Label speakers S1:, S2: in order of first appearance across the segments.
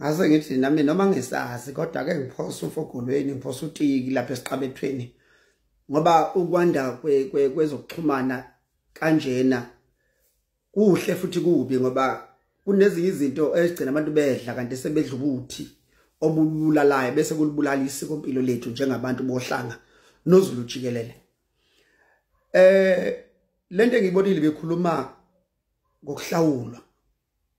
S1: ngase ngithi nami noma ngisazi kodwa ke ngiphosa ufogolweni ngiphosa utiki lapha esiqabethweni ngoba ukwanda kwezokuxhumana kanjena kuhle futhi kubi ngoba kunezinye izinto ezigcina abantu bedla kanti sebedla ukuthi obulalayo bese kulibulala isiko impilo lethu njengabantu bohlanga nozulu jikelele eh lento engiyibonile bekhuluma ngokuhlawulwa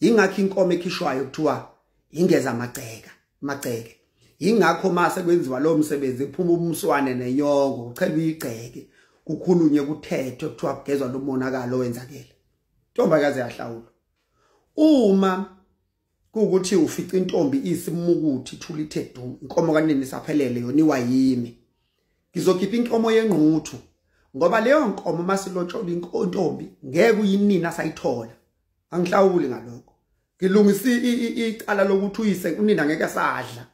S1: ingakho inkomo ekhishwayo kuthiwa ingeza amagceka magceke ingakho mase kwenziwa lo msebenzi ephuma umswane nenyoko uchelwa igceke kukhulunywe kuthethwe kuthiwa kugezwa lo monakalo owenzakele ntombakazi yahlawula uma kuwukuthi ufica intombi isimukuthi thulithe du inkomo kanini saphelele yona iwayimi ngizokhipha inkomo yengquthu ngoba leyo nkomo masilotshola inkontombi ngeke uyinini asayithola angihlawuli ngalokho ngilungisa icala lokuthi uyise unina ngeke sadla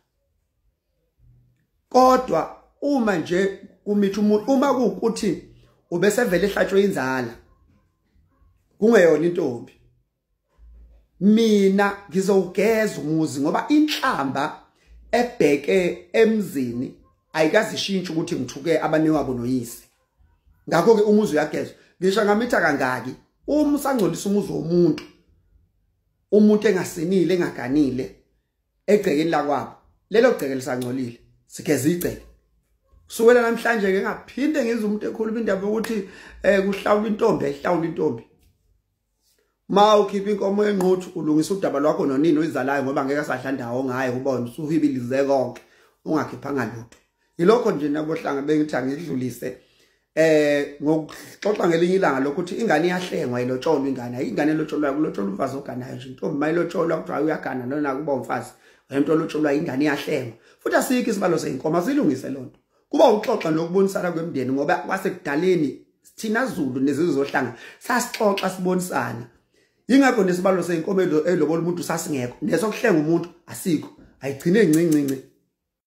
S1: kodwa uma nje kumithi umuntu uma kuukuthi ubesevele ehlatshwe inzala kungeyona intombi mina ngizowugeza umuzi ngoba inhlamba ebheke emzini ayikazishintshe ukuthi ngithuke abanewabo noyise ngakho ke umuzi uyagezwa ngisho ngamitha kangaki uma usangcolisa umuzi womuntu umuntu engasinile engaganile egcekeni lakwabo lelo gceke lisangcolile sigeza igceke kusukela namhlanje ke ngaphinde ngize umuntu ekhuluma indaba yokuthi eh kuhlawula intombi ehlawula intombi ma ukhipha inkomo enquthu ulungisa udaba lwakho nonini oyizalayo ngoba ngeke asadla ndawo ngaye ubona usuhibilize konke ungakhiphanga lutho yilokho nje nabohlanga bengithi angidlulise eh ngokuxoxa ngelinye ilanga lokuthi ingane iyahlengwa ilotsholwa ingane ingane elotsholwa kulotsholwa umfazi oganayo nje intombi mayilotsholwa kuthiwa uyagana nona kuba umfazi wento lotsholwa ingane iyahlengwa futhi asikho isibalo seyinkomo silungise lonto kuba ukuxoxa nokubonisana kwemndeni ngoba kwasekudaleni thina Zulu nezizwe zohlanga sasixoxa sibonisana yingakho nesibalo seyinkomo elobola umuntu sasingekho nesokuhlenga umuntu asikho ayigcine ncincinci